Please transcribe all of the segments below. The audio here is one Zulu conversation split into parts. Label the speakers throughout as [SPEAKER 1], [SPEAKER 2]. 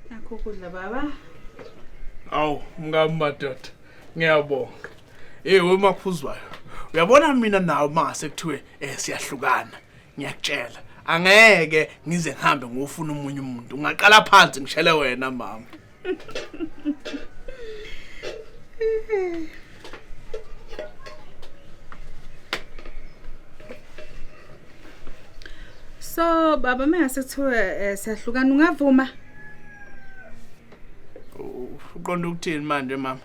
[SPEAKER 1] Nakho ukudla baba.
[SPEAKER 2] Awu mngami madoda ngiyabonga. Hey we maphuzwayo. Uyabona mina nawe mase kuthiwe eh siyahlukana. Ngiyakutshela. Angeke ngize ngihambe ngofuna umunye umuntu. Ngaqala phansi ngishele wena mama.
[SPEAKER 1] so baba mengase kuthiwe eh, siyahlukana ungavuma
[SPEAKER 2] uqonda ukuthini manje mama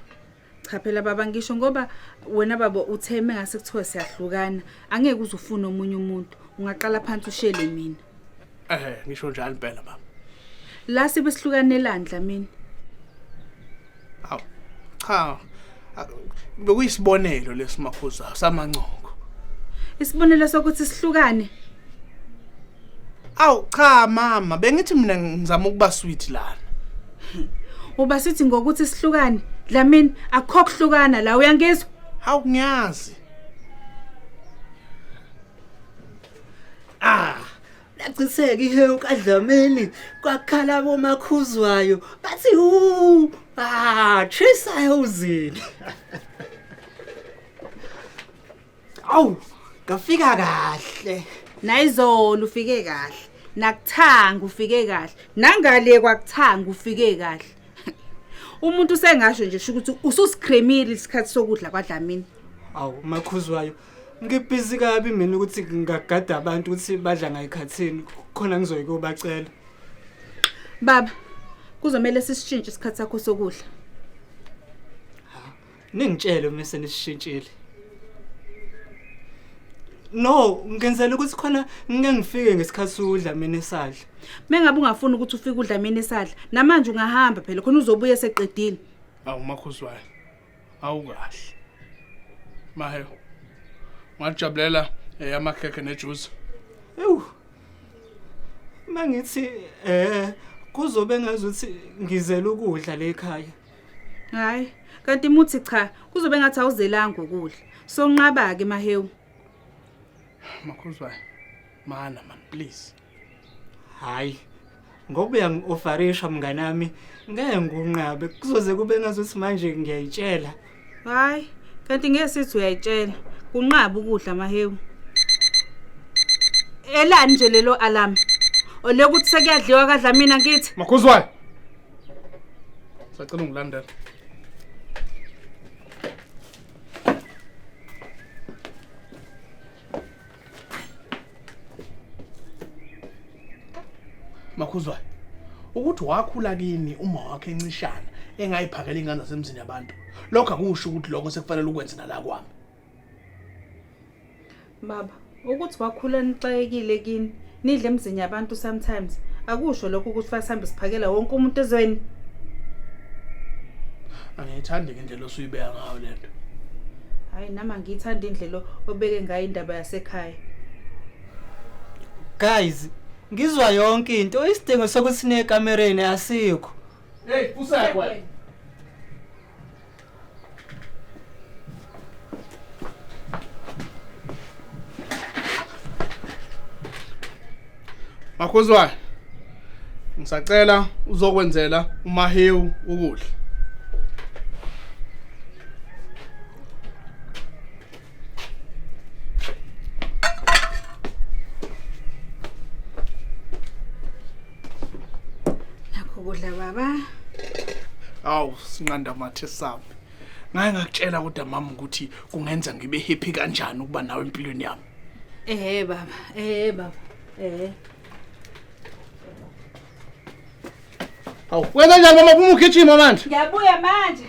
[SPEAKER 2] cha phela
[SPEAKER 1] baba ngisho ngoba wena baba uthe mengase kuthiwa siyahlukana angeke uzufuna omunye umuntu ungaqala phansi ushele mina eh ngisho
[SPEAKER 2] njalo impela baba la sibe
[SPEAKER 1] sihlukane landla mina
[SPEAKER 2] aw cha bekuyisibonelo lesimakhuza samancoko isibonelo
[SPEAKER 1] sokuthi sihlukane
[SPEAKER 2] Awu cha mama, bengithi mina ngizama ukuba sweet lana.
[SPEAKER 1] Uba sithi ngokuthi sihlukane, Dlamini akukho kuhlukana la uyangizwa? Hawu ngiyazi.
[SPEAKER 3] Ah, lagciseka ihewu kaDlamini kwakhala bomakhuzwayo bathi hu ah chisayo uzini. awu ngafika kahle nayizolo
[SPEAKER 1] ufike kahle nakuthanga ufike kahle nangale kwakuthanga ufike kahle umuntu usengasho nje sho ukuthi ususikremile isikhathi sokudla kwadlamini awu
[SPEAKER 3] makhuzwayo ngibhizi kabi mina ukuthi ngingagada abantu ukuthi badla ngayikhathini khona ngizoyi kobacela
[SPEAKER 1] baba kuzomele sisishintshe isikhathi sakho sokudla
[SPEAKER 3] Ningitshele uma senishintshile. No, ngenzela ukuthi khona ngike ngifike ngesikhathi sokudla mina esadla. Mengabe ungafuni
[SPEAKER 1] ukuthi ufike udla mina esadla, namanje ungahamba phela khona uzobuya eseqedile. Awu makhuzwayo.
[SPEAKER 2] Awukahle. Maheyo. Ngajabulela eyamakhekhe nejuice. Ewu.
[SPEAKER 3] Mangithi eh kuzobe ngazuthi ngizela ukudla le ekhaya. Hayi,
[SPEAKER 1] kanti muthi cha, kuzobe ngathi awuzelanga ukudla. Sonqaba ke mahewu.
[SPEAKER 2] Makhuzwayo. Mana man please.
[SPEAKER 3] Hayi. Ngoba uyangi-ofarisha mngane wami, ngeke ngunqabe. Kuzoze kube ngazuthi manje ngiyayitshela. Hayi,
[SPEAKER 1] kanti ngeke sithi uyayitshela. Kunqaba ukudla mahewu. Elani nje lelo alarm? Olekuthi sekuyadliwa kadla mina ngithi. Makhuzwayo.
[SPEAKER 2] sacela ungilandela makhuzwayo ukuthi wakhula kini uma wakhe encishana engayiphakela ingane zasemzini yabantu lokho akusho ukuthi lokho sekufanele ukwenze nala kwami
[SPEAKER 1] baba ukuthi wakhula nixakekile kini nidle emzini yabantu sometimes akusho lokho ukuthi fasihambe siphakela wonke umuntu ezweni
[SPEAKER 2] angiyithandi ngendlela osuyibeka ngayo le nto hhayi
[SPEAKER 1] nami angiyithandi indlela obeke ngayo indaba yasekhaya
[SPEAKER 3] guys ngizwa yonke into isidingo sokuthi sinekamereni asikho Hey,
[SPEAKER 2] usakwa. Makhuzwayo ngisacela uzokwenzela umahewu ukudla
[SPEAKER 1] nakho kudla baba
[SPEAKER 2] awu sinqanda mathe sami ngaye ngakutshela kodwa mama ukuthi kungenza ngibe happy kanjani ukuba nawe empilweni yami ehe baba
[SPEAKER 1] ehe baba ehe
[SPEAKER 2] awu wenza njani mama phuma ugijima manje ngiyabuya manje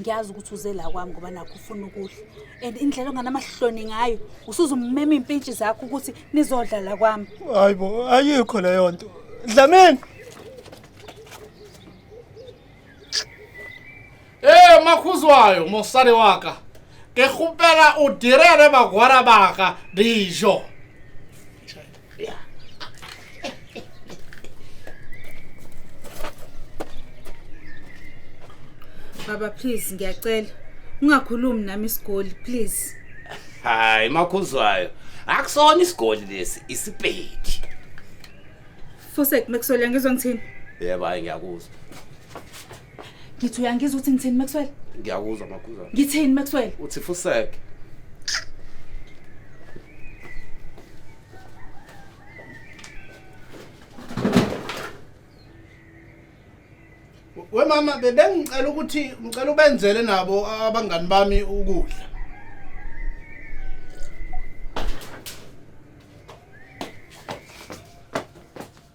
[SPEAKER 1] ngiyazi ukuthi uze la kwami ngoba nakho ufuna ukudla and indlela onganamahloni ngayo usuze ummema iy'mpintshi zakho ukuthi nizodla la kwami hayi bo ayikho
[SPEAKER 3] leyo nto dlamini
[SPEAKER 2] ee makhuzwayo mosadi waka ke kgopela o direle bagwara baka dijo
[SPEAKER 1] Baba please ngiyacela ungakhulumi nami isigoli please. Hayi
[SPEAKER 4] makhuzwayo. Akusona isigoli lesi isipedi.
[SPEAKER 1] Fusek mekusola ngizwa ngithini? Yebo hayi ngiyakuzwa. ngithi uyangizwa ukuthi ngithini maxwell ngiyakuzwa makhuza
[SPEAKER 4] ngithini maxwell uthi
[SPEAKER 1] fuseke
[SPEAKER 2] we mama bebengicela ukuthi ngicela ubenzele nabo abangani bami ukudla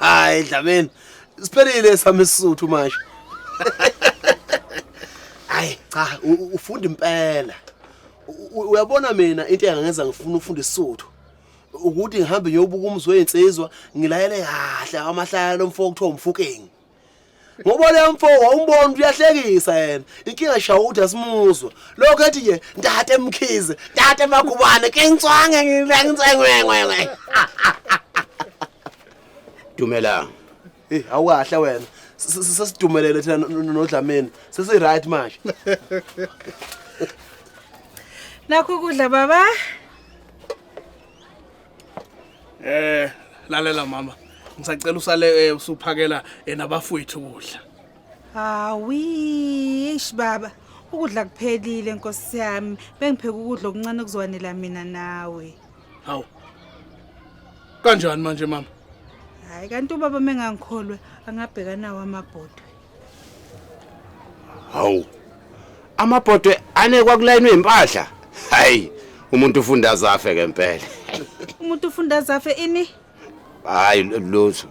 [SPEAKER 4] hayi dlameni siphelile sami isisuthu manje hayi cha u- u- ufunda impela U- u- uyabona mina into engangenza ngifuna ufunda isisuthu ukuthi ngihambe ngiyobuka umzi weyinsizwa ngilayele kahle amahlaya lomfo okuthiwa umfukengi ngoba le mfo wawumbona ukuthi uyahlekisa yena inkinga shawa ukuthi asimuzwa lokho ethi nje ntate mkhize ntate magubane kenswange ngilengitsengwengwengwe dumelanga Eh awukahle wena sesidumelele thina nodlameni sesi right manje
[SPEAKER 1] Nakho kudla baba
[SPEAKER 2] Eh lalela mama ngisacela usale eh, usuphakela eh, nabafowethu ukudla. Hawi,
[SPEAKER 1] ish baba. Ukudla kuphelile nkosi yami. Bengipheka ukudla okuncane kuzwanela mina nawe. Hawu.
[SPEAKER 2] Kanjani manje mama? Hayi kanti
[SPEAKER 1] ubaba mengangikholwe angabheka nawo amabhodwe.
[SPEAKER 4] hawu amabhodwe anekwa kulayini wempahla hayi umuntu ufunda azafe ngempela umuntu
[SPEAKER 1] ufunda azafe ini hayi
[SPEAKER 4] lutho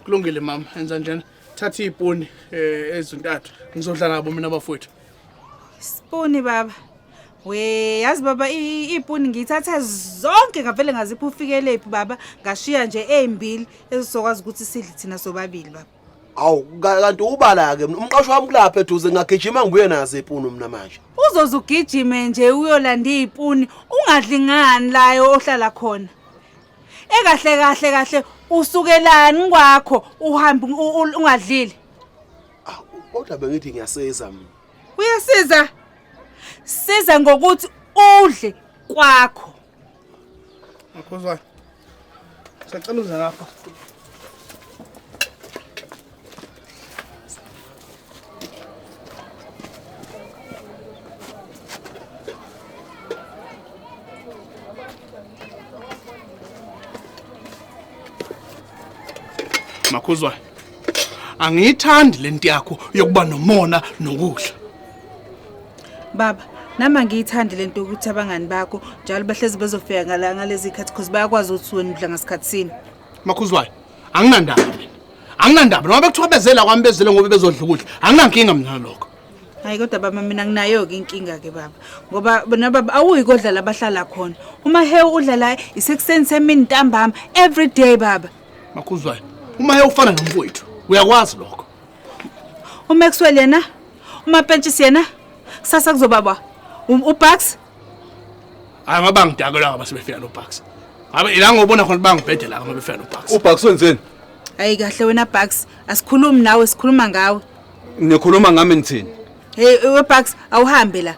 [SPEAKER 2] kulungile mama enza njena thatha iponi eh, ezintathu ngizodla nabo mina bafowethu siponi
[SPEAKER 1] baba we yazi baba ipuni ngiyithatha zonke ngavele ngaziphi ufikeleyiphi baba ngashiya nje ezimbili ezizokwazi ukuthi sidle thina sobabili baba awu
[SPEAKER 4] kanti ubala-ke umqasho wami kulapha eduze ngagijima ngibuye nazo ipunu mina manje uzoze ugijime
[SPEAKER 1] nje uyolanda iy'puni ungadli ngani layo ohlala khona ekahle kahle kahle usukelani kwakho uhambe ungadlile
[SPEAKER 4] kodwa bengithi ngiyasiza mina uyasiza
[SPEAKER 1] siza ngokuthi udle kwakho
[SPEAKER 2] Mkhuzwane. Sacela uze lapha. Makhuzwayo. Angiyithandi lento yakho yokuba nomona nokudla.
[SPEAKER 1] Baba, nami angiyithandi lento ukuthi abangani bakho njalo bahlezi bezofika ngala ngalezi khathi because bayakwazi ukuthi wena udla ngasikhathi sini. Makhuzwayo,
[SPEAKER 2] anginandaba mina. Anginandaba noma bekuthiwa bezela kwami bezele ngoba bezodla ukudla. Anginankinga mina lokho. Hayi kodwa baba
[SPEAKER 1] mina nginayo ke inkinga ke baba ngoba bona baba awuyi kodlala abahlala khona. Uma hewu udlala isekuseni semini ntambama every day baba. Makhuzwayo,
[SPEAKER 2] uma ufana nomfowethu, uyakwazi lokho. Uma
[SPEAKER 1] kuswele yena Umapentshisi yena kusasa kuzoba ba um, uBucks.
[SPEAKER 2] Hayi ngoba ngidakelwa ngoba sebefika noBucks. Ngabe ila ngobona khona bangibhede la ngoba befika noBucks. UBucks wenzeni?
[SPEAKER 5] Hayi kahle
[SPEAKER 1] wena Bucks, asikhulumi nawe sikhuluma ngawe. Nikhuluma ngami
[SPEAKER 5] nithini? Hey weBucks
[SPEAKER 1] awuhambe la.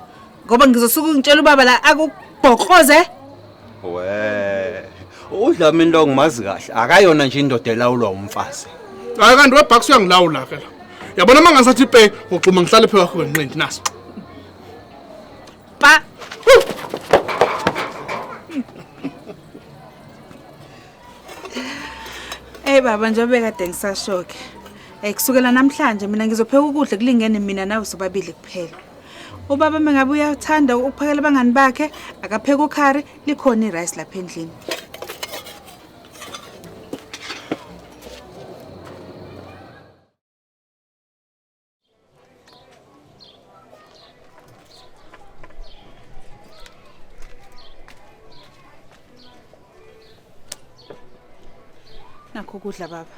[SPEAKER 1] ngoba ngizosuke ngitshela ubaba la akubhokroze we
[SPEAKER 5] udlame into ngimazi kahle akayona
[SPEAKER 2] nje indoda
[SPEAKER 5] elawulwa umfazi hayi kanti webhakisi uyangilawula
[SPEAKER 2] ke la
[SPEAKER 5] yabona
[SPEAKER 2] uma ngasathi ipe ngoxuma ngihlale phe wakho wenqindi naso pa
[SPEAKER 1] Hey baba njengoba kade ngisashoke. Eh kusukela namhlanje mina ngizopheka ukudla kulingene mina nawe sobabili kuphela. Ubaba mengabe uyathanda ukuphakela abangani bakhe akapheke ukhari likhona irice lapha endlini. nakho ukudla baba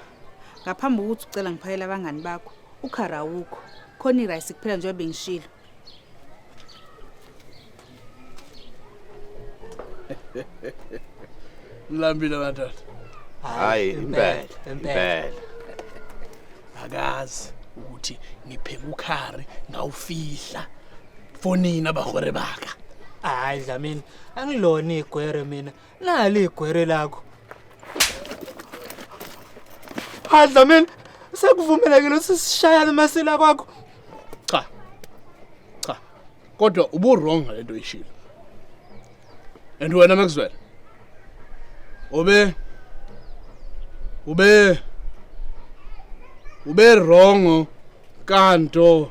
[SPEAKER 1] ngaphambi kokuthi ucela ngiphakela abangani bakho ukhara awukho khona irayisi kuphela njengoba bengishilo
[SPEAKER 2] mlambile madoda hayi
[SPEAKER 5] impela impela
[SPEAKER 2] akazi ukuthi ngipheka ukhari ngawufihla fonini abahore baka hayi dlamini
[SPEAKER 3] angilona igwere mina nali igwere lakho hadla mina sekuvumelekile ukuthi sishayane amasila kwakho cha
[SPEAKER 2] cha kodwa ubu-wrong ngale nto oyishilo and wena maxwell ube ube ube wrongo kanto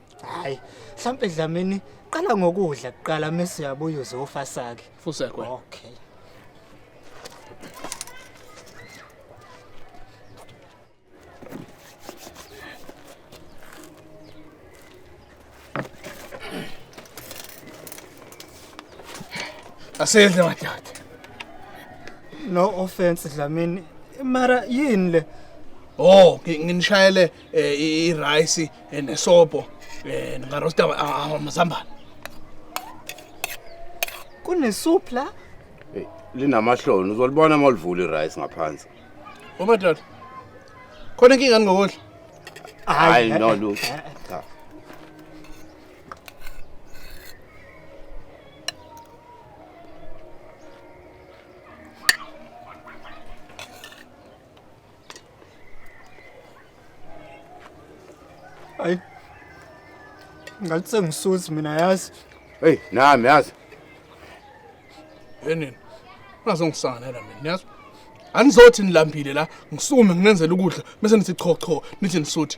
[SPEAKER 3] hayi mhlampe dlamini qala ngokudla kuqala mese uyabuya uzofa sake Fusekwe. okay
[SPEAKER 2] Asidle madoda.
[SPEAKER 3] no offense dlamini mara yini le Oh, ngi-
[SPEAKER 2] nginishayele eh, i- irayisi eh, nesopo um ndingarosta ah, amazambane
[SPEAKER 3] Kunesoup la? Hey,
[SPEAKER 5] linamahloni uzolibona uma ulivula irice ngaphansi umadoda
[SPEAKER 2] khona inkinga ndingokudla hayi
[SPEAKER 5] no lutho Cha.
[SPEAKER 3] Ay. Ngathi sengisuthi mina yazi. Hey, nami
[SPEAKER 5] yazi.
[SPEAKER 2] Yenini. Ungazongisanganela mina, niyazi? Anizothi nilambile la, ngisukume nginenzela ukudla, bese nithi cho cho, nithi nisuthi.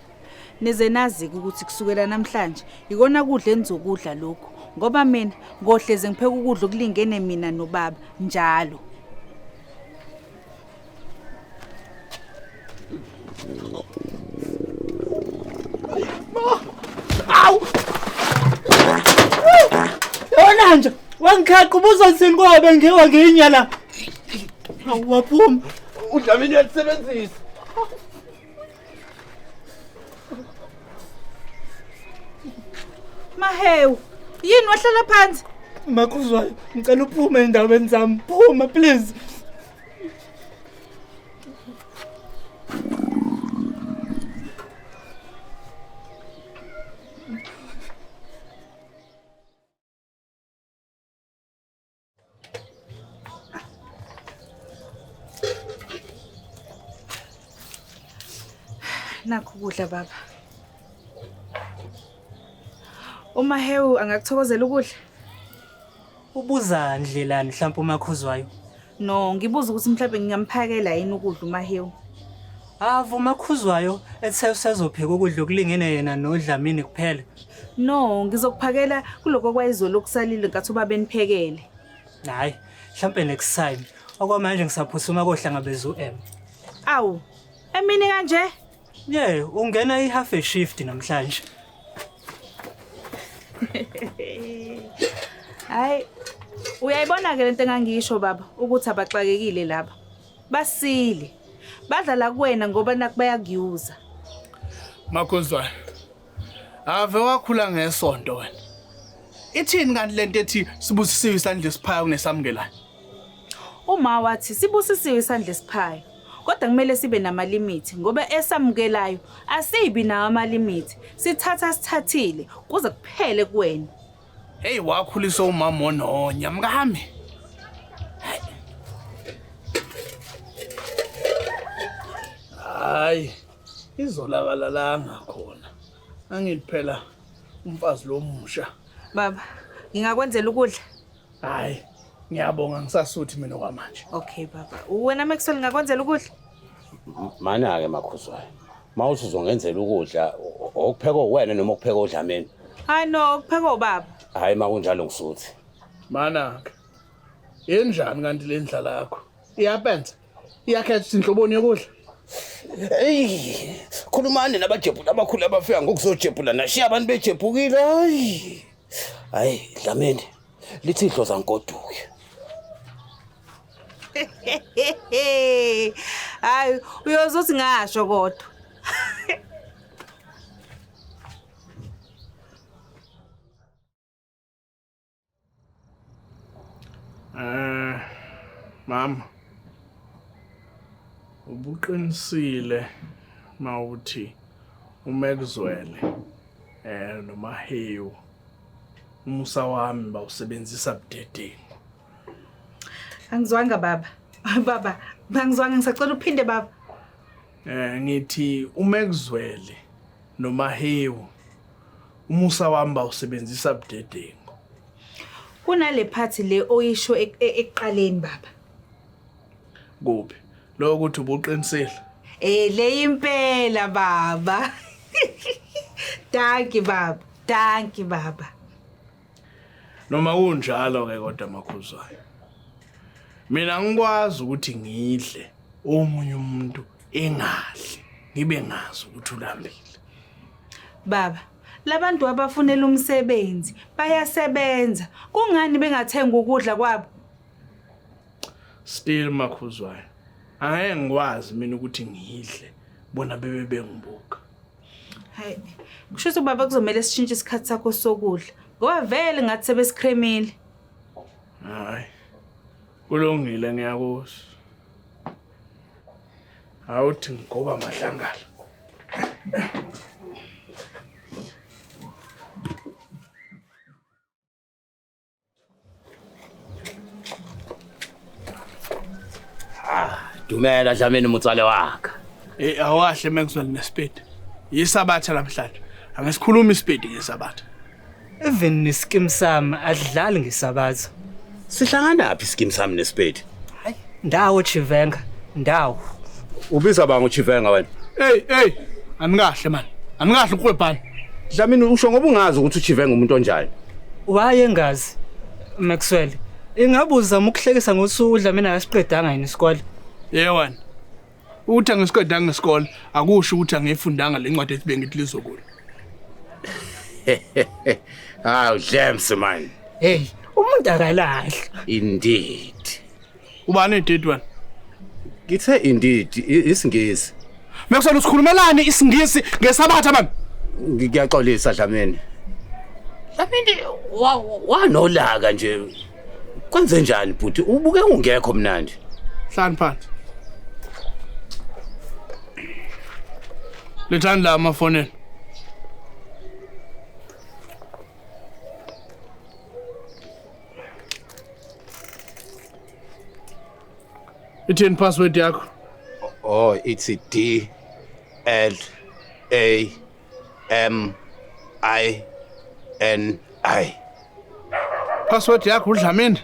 [SPEAKER 1] nize nazi-ke ukuthi kusukela namhlanje yikona kudla enizokudla lokhu ngoba mina ngohleze ngipheka ukudla okulingene mina nobaba njalo
[SPEAKER 3] yona nje wangikhaqa ubuzosini kwabe ngiwa ngiyinyala waphuma udlamini
[SPEAKER 5] uyalisebenzisa
[SPEAKER 1] Mahewu, yini wahlala phansi? Makhuzwayo,
[SPEAKER 3] ngicela uphume endaweni zami. Phuma please.
[SPEAKER 1] nakho ukudla baba. Uma hewu angakuthokozela ukudla?
[SPEAKER 3] Ubuza ndlelani mhlawumbe umakhuzwayo? No, ngibuza
[SPEAKER 1] ukuthi mhlawumbe ngingamphakela yini ukudla uMahewu. Avuma
[SPEAKER 3] khuzwayo ethe usezopheka ukudla okulingene yena nodlamini kuphela. No,
[SPEAKER 1] ngizokuphakela kuloko kwayizolo okusalile nkathi ubaba eniphekele. Hayi,
[SPEAKER 3] mhlampe next time. Okwamanje ngisaphusuma kohlangabeza uM. Awu,
[SPEAKER 1] emini kanje? Ye,
[SPEAKER 3] ungena i-half a shift namhlanje.
[SPEAKER 1] Hayi, uyayibona ke lento engangisho baba ukuthi abaxakekile laba. basile badlala kuwena ngoba naku bayakuyuza
[SPEAKER 2] makhuzwayo ave wakhula ngesonto wena ithini kanti lento ethi sibusisiwe isandla esiphayo kunesamukelayo
[SPEAKER 1] uma wathi sibusisiwe isandla esiphayo kodwa kumele sibe namalimithi ngoba esamukelayo asibi nawo amalimithi sithatha sithathile kuze kuphele kuwena Hey
[SPEAKER 2] wakhulisa umama ononya mkami. Hayi izolakala la ngakhona. Angithi phela umfazi lomusha. Baba,
[SPEAKER 1] ngingakwenzela ukudla? Hayi,
[SPEAKER 2] ngiyabonga ngisasuthi mina kwamanje. Okay baba.
[SPEAKER 1] Wena makusele ngakwenzela ukudla?
[SPEAKER 5] Mana-ke makhuzwayo Uma uthi uzongenzela ukudla o- o- okuphekwa uwena noma okuphekwa odlameni. Hayi no,
[SPEAKER 1] kuphekwa ubaba. Hhayi uma kunjalo
[SPEAKER 5] ngisuthi. Manaka.
[SPEAKER 2] Yenjani kanti le ndlala yakho? Iyapenza. Iyakhetha ukuthi inhloboni yokudla. Eyi,
[SPEAKER 5] khulumani nabajebhula abakhulu abafika ngokuzojebhula nashiya abantu bejebhukile. Hayi. Hayi, Dlamini. Lithi idloza nkoduke.
[SPEAKER 1] hayi uyoze uthi ngasho kodwa
[SPEAKER 2] Eh mama ubuqinisile mawuthi umekuzwele eh nomahewu umusa wami bawusebenzisa budedeni
[SPEAKER 1] Angizwanga baba. Baba, bangizwanga ngisacela uphinde baba. Eh
[SPEAKER 2] ngithi uma ekuzwele noma hewu umusa wami bawusebenzisa budedengu.
[SPEAKER 1] Kunale phathi le oyisho ek- e- ekuqaleni baba.
[SPEAKER 2] Kuphi? Lokho ukuthi ubuqinisile. Eh le
[SPEAKER 1] impela baba. Danki baba. Danki baba.
[SPEAKER 2] noma kunjalo ke kodwa makhuzwayo mina ngikwazi ukuthi ngidle omunye umuntu engadli ngibe ngazi ukuthi ulambile
[SPEAKER 1] baba labantu abafunela umsebenzi bayasebenza kungani bengathenga ukudla kwabo
[SPEAKER 2] still makhuzwayo angeke ngikwazi mina ukuthi ngidle bona bebe bengibuka Hayi.
[SPEAKER 1] Kusho ukuthi ubaba kuzomela sishintshe isikhathi sakho sokudla. Ngoba vele ngathi sebesikremile.
[SPEAKER 2] Hayi. Kulungile ngiyakuzwa. Awuthi ngoba mahlangala.
[SPEAKER 5] Dumela Dlamini mutsale wakhe. Eh awahle
[SPEAKER 2] Maxwell nesipedi. Yisabatha namhlanje. Angisikhulumi isipedi ngesabatha. Even
[SPEAKER 3] neskim sami adlali ngesabatha. Sihlanganaphi
[SPEAKER 5] iskim sami nesipedi? Hayi, ndawo
[SPEAKER 3] Chivenga, ndawo. Ubiza
[SPEAKER 5] banga uChivenga wena. Hey, hey,
[SPEAKER 2] anikahle man. Anikahle ukwebhana. Dlamini usho
[SPEAKER 5] ngoba ungazi ukuthi uChivenga umuntu onjani. Waye
[SPEAKER 3] ngazi Maxwell. Ingabe uzama ukuhlekisa ngosuku uDlamini akasiqedanga yini isikole? Yewena.
[SPEAKER 2] Ukuthi angisiqedanga isikole akusho ukuthi angiyifundanga le ncwadi ethi bengithi lizokula.
[SPEAKER 5] Hawu James man. Hey, umuntu
[SPEAKER 3] akalahla. Indeed.
[SPEAKER 5] Ubani
[SPEAKER 2] edate wena? Ngithe
[SPEAKER 5] indeed isingisi. Mekusona
[SPEAKER 2] usikhulumelani isingisi ngesabatha man? Ngiyaxolisa
[SPEAKER 5] Dlamini. Dlamini wanolaka nje Kwenze njani bhuti? Ubuke ungekho mnandi. Hlani phansi.
[SPEAKER 2] Lethani la amafoneni. Ithini
[SPEAKER 5] password yakho?
[SPEAKER 2] Oh,
[SPEAKER 5] it's D L A M I
[SPEAKER 2] N I. Password yakho uDlamini.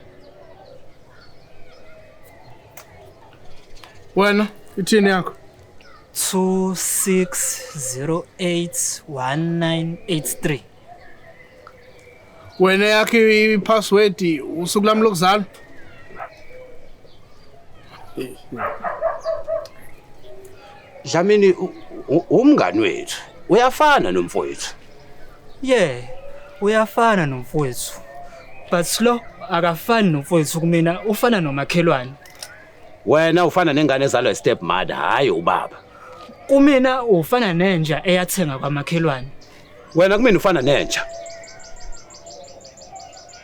[SPEAKER 2] Wena ithini yakho?
[SPEAKER 3] 26081983.
[SPEAKER 2] wena yakhe i-password usuku lami lokuzalwa
[SPEAKER 5] Dlamini u- u- umngani wethu uyafana nomfowethu yeah
[SPEAKER 3] uyafana nomfowethu but lo akafani nomfowethu kumina ufana nomakhelwane wena
[SPEAKER 5] ufana nengane ezalwa step mother hayi ubaba kumina
[SPEAKER 3] ufana nenja eyathenga kwamakhelwane Wena kumina
[SPEAKER 5] ufana nenja.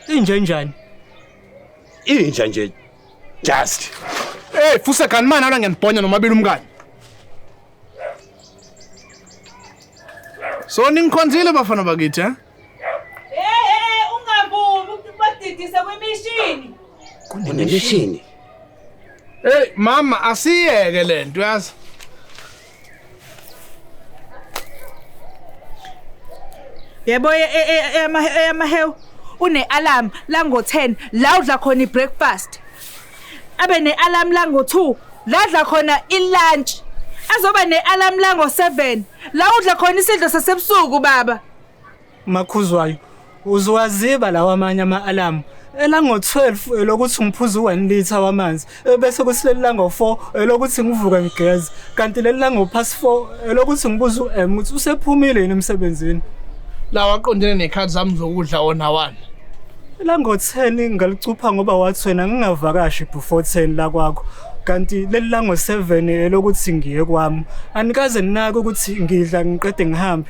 [SPEAKER 3] Inja njani?
[SPEAKER 5] Inja nje just. Hey,
[SPEAKER 2] fusa kani manje ala ngiyanibhonya nomabili umkani. So ningikhonzile bafana bakithi, eh?
[SPEAKER 1] Kunemishini.
[SPEAKER 2] Hey mama asiyeke lento yazi.
[SPEAKER 1] yebo e- e- e- eyama- eyamahewu une-alarm lango-10 la udla khona i-breakfast abe ne-alarm lango-2 la adla khona i-lunch azoba ne-alarm lango-7 la udla khona isidlo sasebusuku baba Makhuzwayo,
[SPEAKER 3] uziwaziba lawa amanye ama-alamu elango-12 elokuthi ngiphuze u-1 litha wamanzi ebese kuthi leli lango-4 elokuthi ngivuke ngigeze kanti leli lango-past 4 elokuthi ngibuze u-m ukuthi usephumile yini emsebenzini lawa
[SPEAKER 2] aqondene nekhathi zami zokudla wona wani elango-10
[SPEAKER 3] ngalicupha ngoba wathi wena ngingavakashi before 10 lakwakho kanti leli lango-7 elokuthi ngiye kwami anikaze ninake ukuthi ngidla ngiqede ngihambe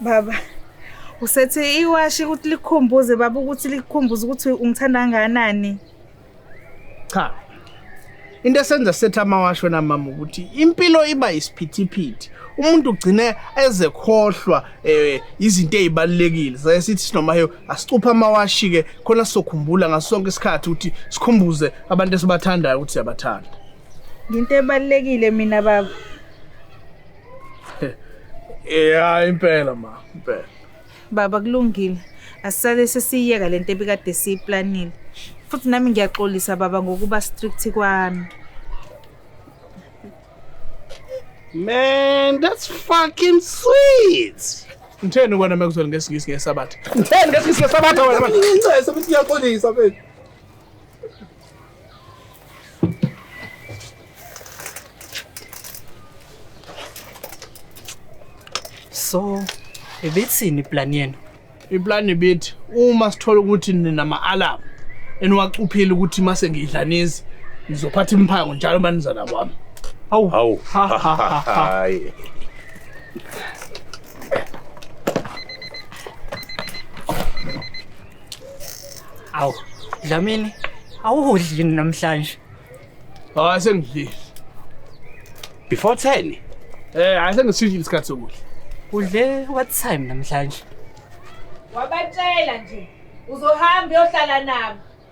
[SPEAKER 1] Baba usethi iwashi ukuthi likhumbuze baba ukuthi likhumbuze ukuthi ungithanda kangakanani.
[SPEAKER 2] Cha. Into esenza setha amawashi wena mama ukuthi impilo iba isiphithiphithi. Umuntu ugcine ezekhohlwa eh izinto ezibalekile. Saye sithi sinoma heyo asicupha amawashi ke khona sokhumbula ngasonke isikhathi ukuthi sikhumbuze abantu esibathandayo ukuthi siyabathanda. Into
[SPEAKER 1] ebalekile mina baba.
[SPEAKER 2] ya impela ma impela baba
[SPEAKER 1] kulungile asisale sesiyiyeka le nto ebikade siyiplanile futhi nami ngiyaxolisa baba ngokuba strict kwami
[SPEAKER 5] Man, that's fucking sweet. Ngitheni kwena
[SPEAKER 2] mekuzwela ngesingisi ngesabatha? Ngitheni ngesingisi ngesabatha wena manje? Ngincese ukuthi ngiyaxolisa
[SPEAKER 3] mfethu. So, ibithini plan yenu? Iplan ibithi
[SPEAKER 2] uma sithola ukuthi nina ma-alarm eniwacuphile ukuthi mase ngiyidlanizi ngizophatha imphango njalo manizana kwami. Hawu. Hawu. Ha, ha, ha, ha.
[SPEAKER 5] Hayi.
[SPEAKER 3] Awu, Dlamini, awuhudli yini namhlanje? Hayi
[SPEAKER 2] sengidlile.
[SPEAKER 5] Before 10. Eh, hayi
[SPEAKER 2] sengisishile isikhathi sokudla. Udle
[SPEAKER 3] what time namhlanje?
[SPEAKER 1] Wabatshela nje uzohamba uyohlala nabo.